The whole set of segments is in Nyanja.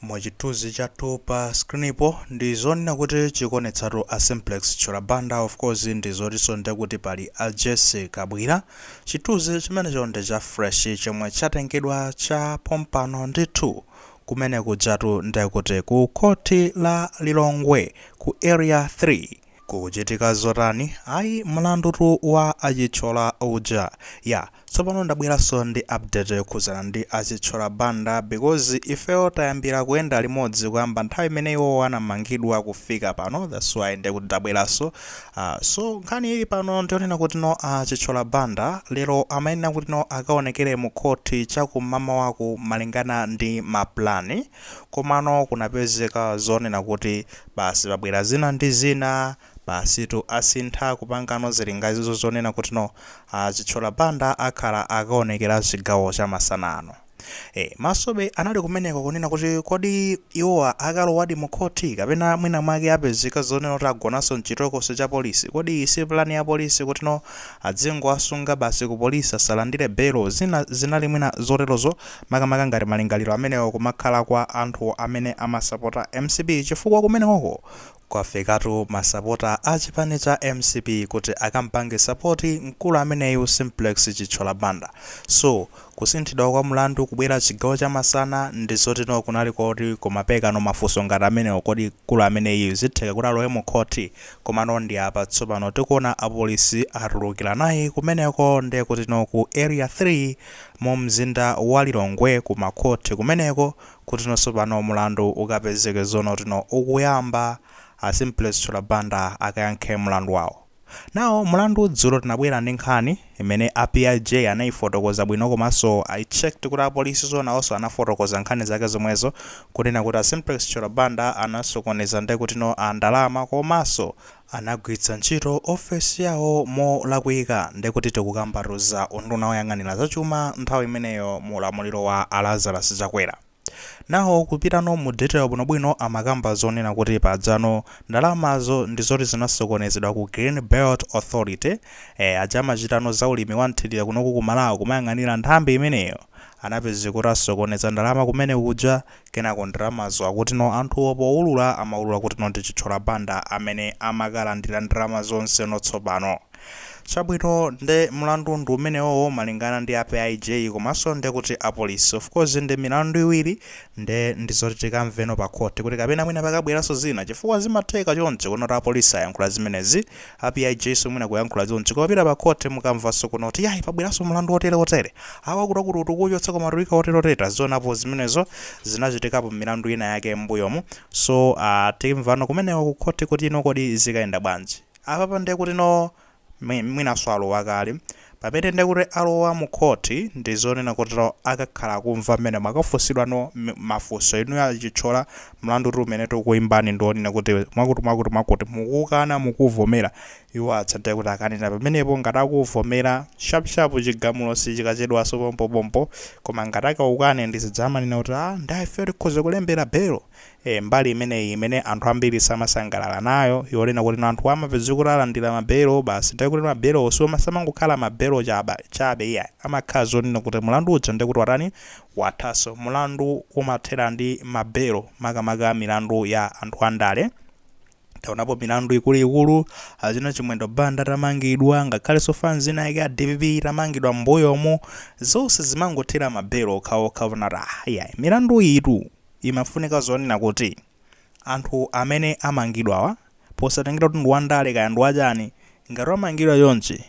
Mu chithuzi chathu pa screen po ndi zonena kuti chikuonetsatu a Simplex Chithyola Banda of course ndi zotiso nde kuti pali a Jessie Kabwira. Chithuzi chimenecho ndi cha fresh chomwe chatengedwa cha pompano ndithu kumene kujatu nde kuti ku Khoti la Lilongwe ku Area 3. Kukuchitika zotani? Ayi, mlandu tu wa a Chithyola uja. Ya, tsopano ndabweranso ndi update yokhudzana ndi a Chithyola Banda because ifeyo tayambira kuyenda limodzi kuyamba nthawi imene iwowo anamangidwa kufika pano that's why nde kuti ndabweranso. Ah, so nkhani ili pano ndi yonena kuti no a Chithyola Banda lero amayenera kuti no akaonekere mu court cha kum'mamawaku malingana ndi ma plan. Komano kunapezeka zonena kuti basi pabwera zina ndi zina, basitu asintha kupangano zilinganizo zonena kuti no a Chithyola Banda akhala akaonekera chigawo cha masana ano. E, masobe anali kumeneko kunena kuti kodi iwowa akalowadi mu khoti kapena mwina mwake apezeka zonena kuti agonanso m'chitokosi cha polisi, kodi iyi si plan ya polisi kuti no adzingowasunga basi ku polisi asalandire belo, zina zinali mwina zoterozo. makamaka ngati malingaliro amenewo kumakhala kwa anthu amene amasapota mcp chifukwa kumenekoko kwafikatu masapota a chipani cha mcp kuti akampange sapoti mkulu ameneyu Simplex Chithyola Banda so kusinthidwa kwa mlandu kubwera chigawo cha masana ndizoti no kunali koti kumabwerano mafunso ngati amenewo kodi mkulu ameneyiyu zitheka kuti alowe mu khothi komano ndi apa tsopano tikuona apolisi atulukira naye kumeneko ndekuti no ku area 3 mu mzinda wa Lilongwe ku ma court kumeneko kutino tsopano mulandu ukapezeke zonena kutino ukuyamba a Simplex Chithyola Banda akayankhe mulandu wawo. Now mulandu dzulo tinabwera ndi nkhani imene a PIJ anayifotokoza bwino komanso I checked kuti apolisi so nawoso anafotokoza nkhani zake zomwezo kunena kuti a Simplex Chithyola Banda anasokoneza ndekutino a ndalama komaso anagwilitsa ntchito ofesi yawo molakwika ndekuti tikukambatu za unduna woyang'anila za chuma nthawi imeneyo mu ulamuliro wa a Lazarus Chakwera. Now kupitano mu detail bwinobwino amakamba zonena kuti pajano ndalamazo ndizoti zinasokonezedwa ku Green Belt Authority ee aja amachitano za ulimi wa mthilira kunoku ku Malawi kumayang'anila nthambi imeneyo anapezeka kuti asokoneza ndalama kumene kuja Kenako ndalamazo akutino anthuwo poulula amaulula kutino ndi Chithyola Banda amene amakalandira ndalama zonse no tsopano. Chabwino nde mlandu ndi umenewowo malingana ndi a PIJ komanso nde kuti a Police. Of course ndi milandu iwiri nde ndi zoti tikamveno pa Court kuti kapena mwina pakabweranso zina chifukwa zimatheka choncho kunena kuti a Police ayankhula zimenezi Apa PIJ so mwina kuyankhula chonchi. Kukapita pa court mukamvanso kuno kuti yayi pabweranso mlandu wotere wotere. Awa akuti akuti akuuchotsa koma ati auika wotere wotere tazionapo zimenezo. Zinachitikapo m'milandu ina yake m'mbuyomu. So aah timvano kumeneko ku court kutino kodi zikayenda bwanji. Apapa ndiye kutino mwinanso alowa kale. Pamene nde kuti alowa mu court ndi zonena kotero akakhala akumva mmenemo akafunsidwa no mafunso inuyo a Chithyola mlandutu umene tikukuimbani ndi onena kuti mwakuti mwakuti mwakuti mukuukana mukuuvomera iwo aja nde kuti akanena pamenepo ngati akuuvomera shap shap chigamulo sichikachedwanso pompopompo koma ngati akaukane ndi zija amanena kuti aah nde ifeyo tikhoza kulembera bail e Mbali imeneyi imene anthu ambiri samasangalala nayo yonena kuti anthuwa amapezeka kuti alandira ma belo basi ndiye kuti ma belowo samangokhala ma belo chaba chabe iyayi amakhala zonena kuti mulandu uja ndiye kuti watani wathaso mulandu umathera ndi ma belo makamaka milandu ya anthu andale taonapo milandu ikuluikulu achina chimwendo banda atamangidwa ngakhaleso fans ina yake ya dpp itamangidwa mbuyomu zonse zimangothera ma belo okhaokha osati ah iyayi milandu iyi tu Imafunika zonena kuti anthu amene amangidwawa posatengera kuti ndi wandale kaya ndi wachani ngati wamangidwa chonchi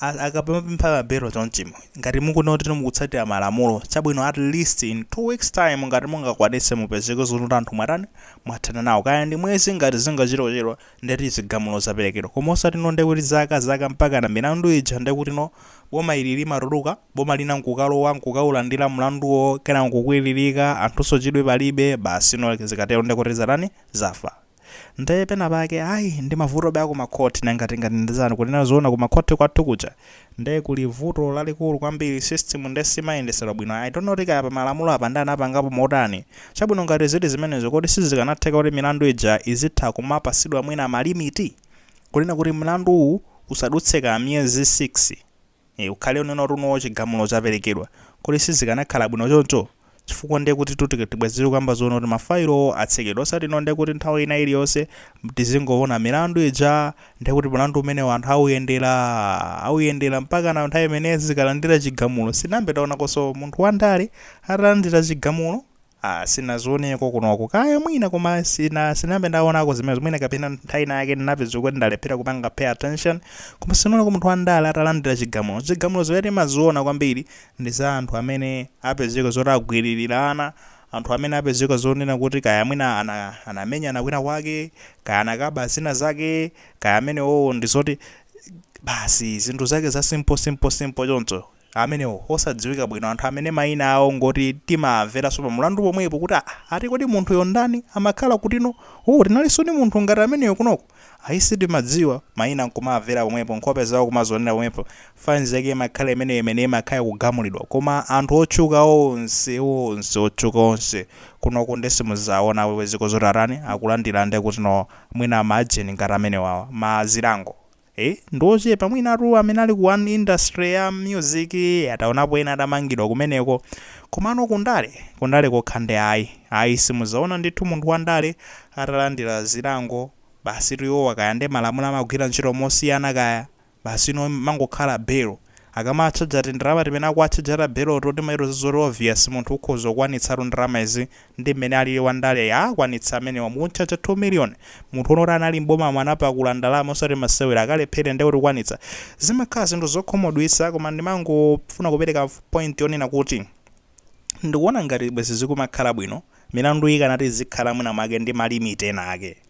akamapempha ma belo chonchimu ngati mukuona kuti mukutsatira malamulo chabwino at least in two weeks time ngati mungakwanitse mupezeke zonena kuti anthu mwatani mwathana nawo kaya ndi mwezi ngati zingachite kuchedwa ndeti chigamulo chaperekedwa koma osatino ndekuti zaka zaka mpakana milandu ija ndekutino boma ili limatuluka boma lina nkukalowa nkukaulandira mlanduwo kenako nkukwiririka anthunso chidwi palibe basi you know zikatero nde kuti zatani zafa nde pena pake ayi ndi mavutobe aku ma court nanga tingati ndi zani kunena zoona ku ma court kwathu kuja nde kuli vuto lalikulu kwambiri system nde simayendetsedwa bwino I don't know kuti kaya pa malamulo apa nde anapangapo motani chabwino ngati zili zimenezo kodi sizikanatheka kuti milandu ija izitha kumapasidwa mwina malimiti kunena kuti mlandu uwu usadutse kaya miyezi 6 Eee ukhale unena kuti no chigamulo chaperekedwa kodi sizikanakhala bwino choncho? Chifukwa ndiye kuti bwezi tikukamba zonena kuti mafailowo atsekedwe osati no ndiye kuti nthawi ina iliyonse tizingoona milandu ija ndiye kuti mlandu umenewo anthu auyenderaa auyendera mpakana nthawi imene azikalandira chigamulo sinayambe taonakonso munthu wandale atalandira chigamulo Ah sinazioneko kunoku kaya mwina koma sina sinayambe ndaonako zimenezo mwina kapena nthawi ina yake ndinapeza kuti ndalephera kupanga pay attention koma sinaoneko munthu wandale atalandira chigamulo zigamulo zimene timaziona kwambiri ndi za anthu amene apezeka zoti agwiririra ana anthu amene apezeka zonena kuti kaya mwina anamenyana kwina kwake kaya anakaba zina zake kaya amenewowo ndi zoti basi zinthu zake za simple simple simple choncho amenewo osadziwika bwino, anthu amene mayina awo ngoti timawamveranso pa mlandu pomwepo kuti aa ati kodi munthuyu ndani, amakhala kutino, oo tinalinso ndi munthu ngati ameneyo kunoko, ayi sitimadziwa, mayina nkumawamvera pomwepo, nkhope zawo kumazionera pomwepo, fans yake imakhala imeneyo imene imakhala ikugamulidwa koma anthu otchuka onse onse otchuka onse kunoko nde simudzawaona awewe zoti atani akulandira nde kutino mwina ma agent ngati amenewawa mazilango ee ndi ochepa mwinatu amene ali ku 1 industry ya music tinaonapo ena atamangidwa kumeneko komano ku ndale ku ndale kokha nde ayi ayi simuzaona ndithu munthu wa ndale atalandira zilango basitu iwowa kaya nde malamulo amagwira ntchito mosiyana kaya basi inu mangokhala belo Akamatchaja tindalama timene akuwatchaja ta beloto timaitoza zoti obvious munthu ukhoza kukwanitsatu ndalama izi ndi mmene alili wa ndaleyi akwanitsa amenewa mukumtchaja 2 million munthu woti anali m'bomamo anapakula ndalama osati masewera akalephere nde kuti kukwanitsa zimakhala zinthu zokhumudwitsa koma ndimangofuna kupereka point yonena kuti ndikuona ngati bwezi zikumakhala bwino milanduyi ikanati izikhala mwina mwake ndi ma limit ena ake.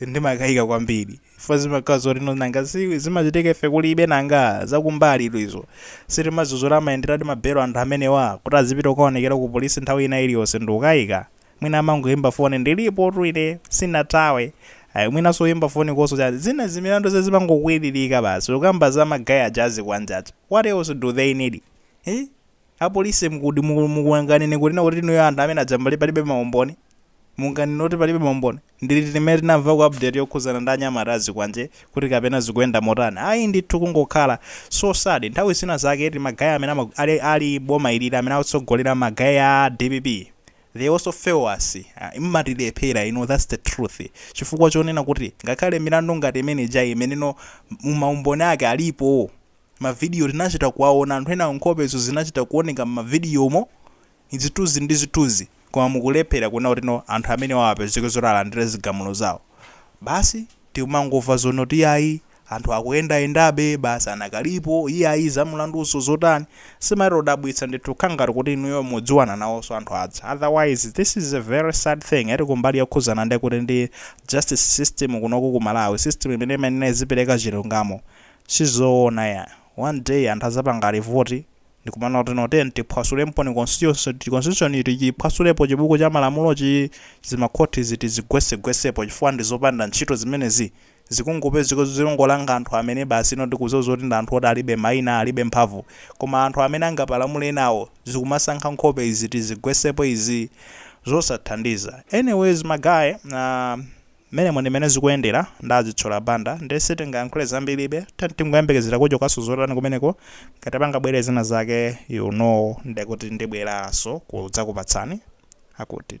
ndimakayika kwambiri chifukwa zimakhala zotino nanga si zimachitika ife kulibe nanga zakumbalitu izo sitimazuzura amayenderadi mabelo anthu amenewa kuti azipita kukaonekera ku polisi nthawi ina iliyonse ndikukayika mwina amangoyimba foni ndilipotu ine sinathawe ayi mwinanso kuyimba foniko nso chani zina zimilanduzi zimangokwiririka basi ukamba za ma guy aja azikwanje aja what else do they need eh? Apolisi mukuti muku mungangonena kunena kuti inuyo anthu amene aja mbale palibe maumboni? Munganene kuti palibe maumboni? Ndi liti limene tinamvako update yokhuzana ndi anyamata azikwanje kuti kapena zikuyenda motani? Ayi ndithu kungokhala. So sad. Nthawi zina zake eti ma guy amene ama ali ali boma ilili amene akutsogolera ma guy a dpp they also fail us. Mmatilephera inu that's the truth chifukwa chonena kuti ngakhale milandu ngati imene ijayi imeneno maumboni ake alipo. Mavidiyo, Tinachita kuwaona anthu enawo nkhopezo zinachita kuoneka m'mavidiyomo, zithunzi ndi zithunzi, koma mukulephera kunena kutino anthu amenewawo apezeke zoti alandire zigamulo zawo. Basi tikumangomva zonoti iyayi anthu akuyendayendabe, basi anakalipo, iyayi za mlanduzo zotani. Zimatidabwitsa ndithu kukhala ngati kuti inuyo mukudziwana nawonso anthu aja. Otherwise this is a very sad thing eti kumbali yokhuzana ndi kuti ndi justice system kunoko ku Malawi, system imene imayenera kuti izipereka chilungamo. Sizoona ya, one day anthu azapanga revolt ndikumanena kutino tiyeni tiphwasulemoni constitution, constitution iyi tichiphwasulepo chibuku cha malamulochi, zimakhotizi tizigwesegwesepo chifukwa ndizopanda ntchito zimenezi, zikungopezeka kuti zikungolanga anthu amene basi no ndikudziwa zoti ndi anthu oti alibe maina alibe mphamvu koma anthu amene angapalamule enawo zikumasankha nkhope izi tizigwesepo izi zosathandiza anyways ma guy eh. Mmenemo ndimene zikuyendera nda Zitchola Banda nde sitingayankhule zambiribe tiyeni tingoyembekezera kuti kaya zotani kumeneko ngati pangabwere zina zake you know ndekuti ndibweraso kudzakupatsani akuti.